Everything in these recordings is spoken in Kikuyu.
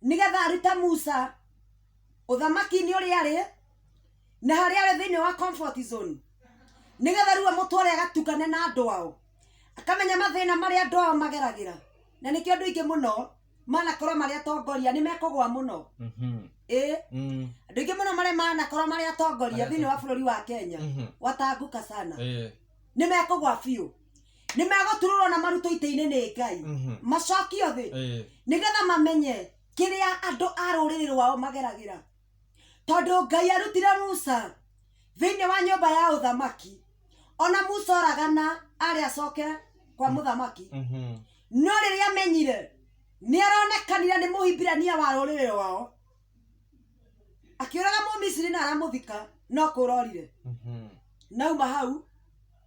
nĩ getha arute musa ũthamaki-inĩ ũrĩa arĩ na harĩa arĩ thĩinĩ wa comfort zone nĩ getha rĩu amũtware agatukane na andũ ao akamenya mathĩna marĩa andũ ao mageragĩra na nĩkĩo andũ aingĩ mũno manakorwo marĩ atongoria nĩ mekũgwa mũno Mhm. ĩĩ Mm. andå aingä må no marä manakorwo marä atongoria Marĩa thä inä wa bå rå ri wa kenya Mhm. watanguka sana Eh. nä mekågwa biå nĩ megũturũrwo na marutwo itĩ-inĩ nĩ ngai Mhm. macokio thĩ Eh, nĩgetha mamenye kĩrĩa andũ a rũrĩrĩ rwao mageragĩra tondũ ngai arutire musa thĩinĩ wa nyũmba ya ũthamaki ona musa oragana arĩ acoke kwa mũthamaki mhm. no rĩrĩa amenyire nĩ aronekanire nĩ mũhibirania wa rũrĩrĩ rwao akĩũraga mũmisiri na aramũthika no kũrorire Mhm. nauma hau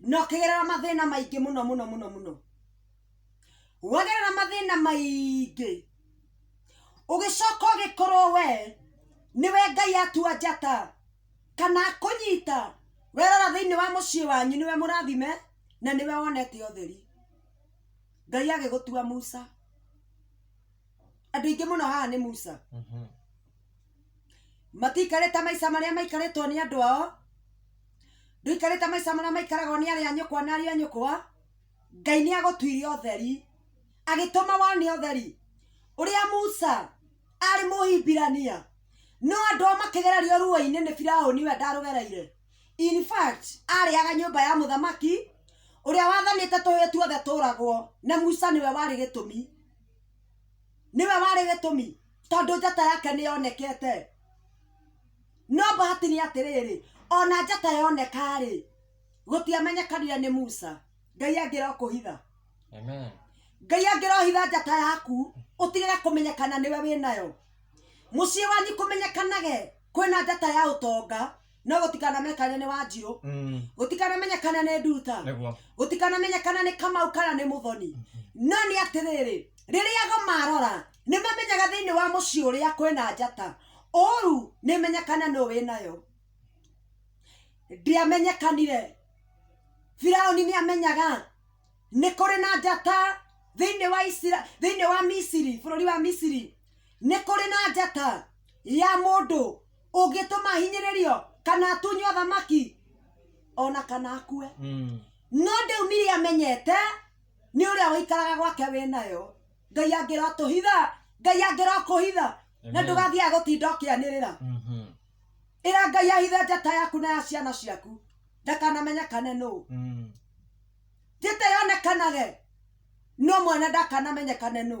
na ũkĩgerera mathĩna maingĩ mũno mũno mũno mũno wagerera mathĩna maingĩ ũgĩcoka ũgĩkorwo we nĩwe ngai atua njata kana akũnyita werora thĩinĩ wa mũciĩ wanyu nĩwe mũrathime na nĩwe wonete ũtheri ngai agĩgũtua musa andũ aingĩ mũno haha nĩ musa Mhm. matiikarĩte maica marĩa maikarĩtwo nĩ andũ ao ndũikarĩte maica marĩa maikaragwo nĩ arĩa a nyũkwa na ariũ a nyũkwa ngai nĩ agũtuire ũtheri agĩtũma wone ũtheri ũrĩa musa arĩ mũhibirania no andũ ao makĩgererio ruo-inĩ nĩ firaũni we ndarũgereire in fact arĩaga nyũmba ya mũthamaki ũrĩa wathanĩte tũhĩĩ tuothe tũragwo na musa nĩwe warĩ gĩtũmi nĩwe warĩ gĩtũmi tondũ njata yake nĩ yonekete no bahati nĩ atĩrĩrĩ ona njata yonekarĩ gũtiamenyekanire nĩ musa ngai angĩra ũkũhitha Amen. ngai angĩrohitha njata yaku ũtigĩre kũmenyekana nĩwe wĩ nayo mũciĩ wanyu kũmenyekanage kwĩna njata ya ũtonga no gũtikanamenyekane nĩ wanjirũ Mm. gũtikanamenyekane nĩ nduta Nĩguo. gũtikanamenyekana nĩ kamau kana nĩ mũthoni no nĩ atĩrĩrĩ rĩrĩa go marora nĩ mamenyaga thĩinĩ wa mũciĩ ũrĩa kwĩna njata ũru nĩ menyekana nũ wĩ nayo ndiamenyekanire firaũni nĩ amenyaga nĩ kũrĩ na njata thĩinĩ wa Isira- thĩinĩ wa misiri bũrũri wa misiri nĩ kũrĩ na njata ya mũndũ ũngĩtũma hinyĩrĩrio kana atunywo thamaki ona kana akue Mm. no ndĩu miri amenyete nĩ ũrĩa ũikaraga gwake wĩ nayo ngai angĩrotũhitha ngai angĩrokũhitha na Amen. ndũgathiĩ agũtinda ũkĩanĩrĩra Mhm. ĩra ngai ahithe njata yaku na ya ciana ciaku ndakanamenyekane nũ Mm. njĩte yonekanage no mwene ndakanamenyekane nũ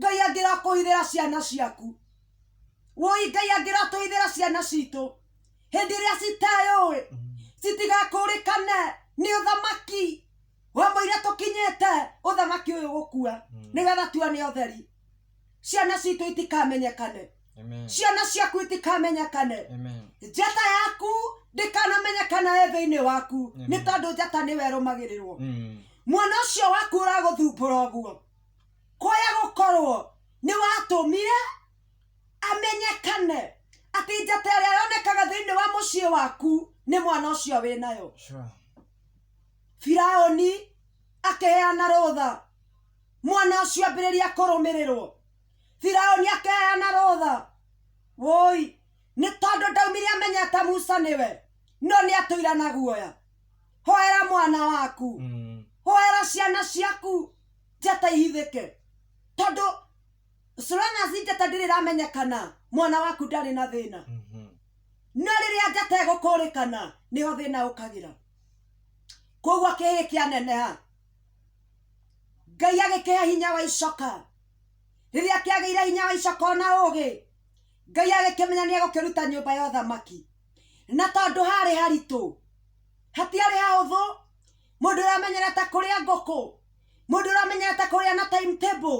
ngai angĩrakũithĩra ciana ciaku woi ngai angĩratũithĩra ciana citũ hĩndĩ ĩrĩa citeyũĩ citigakũrĩkane nĩ ũthamaki wa mũira tũkinyĩte ũthamaki ũyũ gũkua mm. nĩgetha tuone ũtheri ciana citũ itikamenyekane ciana ciaku itikamenyekane njata yaku ndĩkanamenyekana ĩ thĩinĩ waku nĩ tondũ njata nĩwe ĩrũmagĩrĩrwo mm. mwana ũcio waku ũragũthumbũra ũguo Kũrĩa gũkorwo nĩ watũmire amenyekane atĩ njata ĩrĩa yonekaga thĩinĩ wa mũciĩ waku nĩ mwana ũcio wĩ nayo Sure. firaũni akĩheana rũtha mwana ũcio ambĩrĩria kũrũmĩrĩrwo firaũni akĩheana rũtha woi nĩ tondũ ndaumire amenya ta musa nĩwe no nĩ atũira na guoya hoera mwana waku Mm. hoera ciana ciaku ti ataihithĩke tondũ Solana Zingata ndĩrĩ ramenyekana mwana waku ndarĩ na thĩna Mhm. no rĩrĩa njata ĩgũkũrĩkana nĩho thĩna ũkagĩra koguo kĩhĩ kĩaneneha ngai agĩkĩhe hinya wa icoka rĩrĩa kĩagĩire hinya wa icoka ona ũgĩ ngai agĩkĩmenya nĩ egũkĩruta nyũmba ya ũthamaki na tondũ harĩ haritũ hatiarĩ hahũthũ mũndũ ũramenyera ta kũrĩa ngũkũ mũndũ ũramenyera ta kũrĩa na time table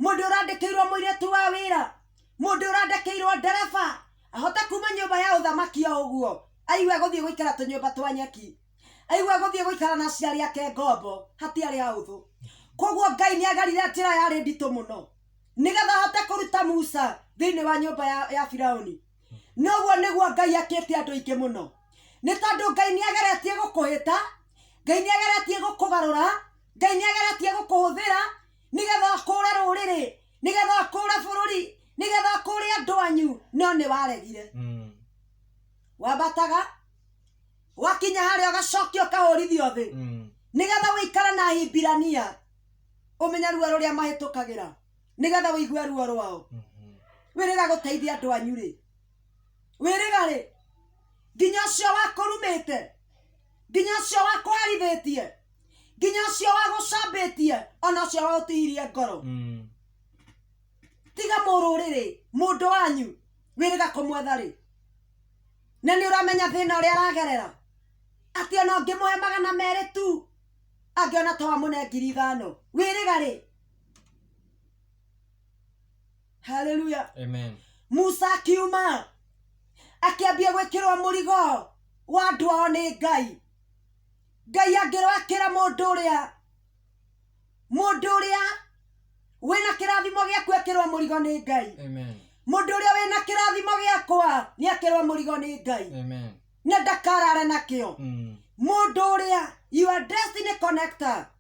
mũndũ ũrandĩkĩirwo mũirĩtu wa wĩra mũndũ ũrandĩkĩirwo ndereba ahote kuma nyũmba ya ũthamaki o ũguo aigue gũthiĩ gũikara tũnyũmba twa nyeki aigue gũthiĩ gũikara na aciari ake ngombo hatiarĩ hahũthũ koguo ngai nĩ agerire njĩra yarĩ nditũ mũno nĩgetha ahote kũruta musa thĩinĩ wa nyũmba ya, ya firaũni nĩ ũguo nĩguo ngai akĩte andũ aingĩ mũno nĩ tondũ ngai nĩ ageretie gũkũhĩta ngai nĩ ageretie gũkũgarũra ngai nĩ ageretie gũkũhũthĩra nĩgetha ũkũre rũrĩrĩ nĩgetha ũkũre bũrũri nĩgetha ũkũre andũ anyu no nĩ waregire Mm. wambataga wakinya harĩa ũgacokia ũkahũrithio thĩ Mm. nĩgetha wĩikare na hibirania ũmenye ruo rũrĩa mahĩtũkagĩra nĩgetha wĩigue ruo rwao wĩrĩga gũteithia andũ anyu rĩ wĩrĩga rĩ nginya ũcio wakũrumĩte nginya ũcio wakwarithĩtie nginya ũcio wagũcambĩtie ona ũcio wagũtihirie ngoro tiga mũrũrĩrĩ mũndũ wanyu wĩrĩga kũmwetha rĩ na nĩ ũramenya thĩna ũrĩa aragerera atĩ ona ũngĩmũhe magana merĩ tu angĩona to amũne ngiri ithano wĩrĩga rĩ haleluya Amen. musa akiuma akĩambia gwĩkĩrwo mũrigo wa andũ ao nĩ ngai ngai angĩroakĩra mũndũ ũrĩa mũndũ ũrĩa wĩna kĩrathimo gĩaku ekĩrwo mũrigo nĩ ngai Amen. mũndũ ũrĩa wĩna kĩrathimo gĩakwa nĩ akĩrwo mũrigo nĩ ngai Amen. na ndakarare nakĩo Mm. mũndũ ũrĩa your destiny connector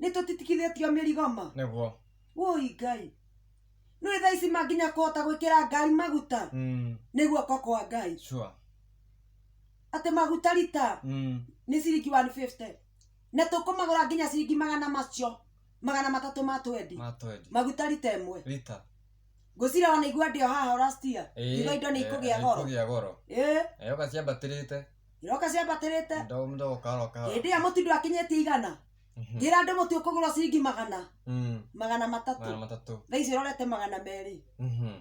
nĩ tũtitikithĩtio mĩrigo ma nĩguo woi ngai nĩ thaa ici ma nginya kũhota gwĩkĩra ngari maguta Mm, nĩ guoko kwa ngai sure atĩ maguta rita Mm, nĩ ciringi 150 na tũkũmagũra nginya ciringi magana macio magana matatũ ma twendi ma twendi maguta rita ĩmwe rita ngwĩciria wanaigua ndĩo haha ũrastia Ĩĩ, iga indo nĩ eh, ikũgĩa goro ikũgĩa goro ĩĩ Eh, ũgaciambatĩrĩte iroka ciambatĩrĩte Mdogo mdogo kahora kahora. hĩndĩ ĩyo mũtindu akinyĩtie igana Mhm. ngĩra andũ mũti ũkũgũrwo ciringi magana Mm. magana Mara matatũ matatu. thaa ici ũrorete magana merĩ Mhm.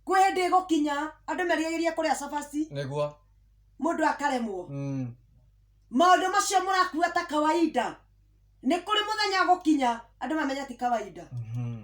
kwĩ hĩndĩ ĩgũkinya andũ merigagĩria kũrĩa cabaci Nĩguo. mũndũ akaremwo Mm. maũndũ macio mũrakua ta kawaida nĩ kũrĩ mũthenya gũkinya andũ mamenya ti kawaida Mhm.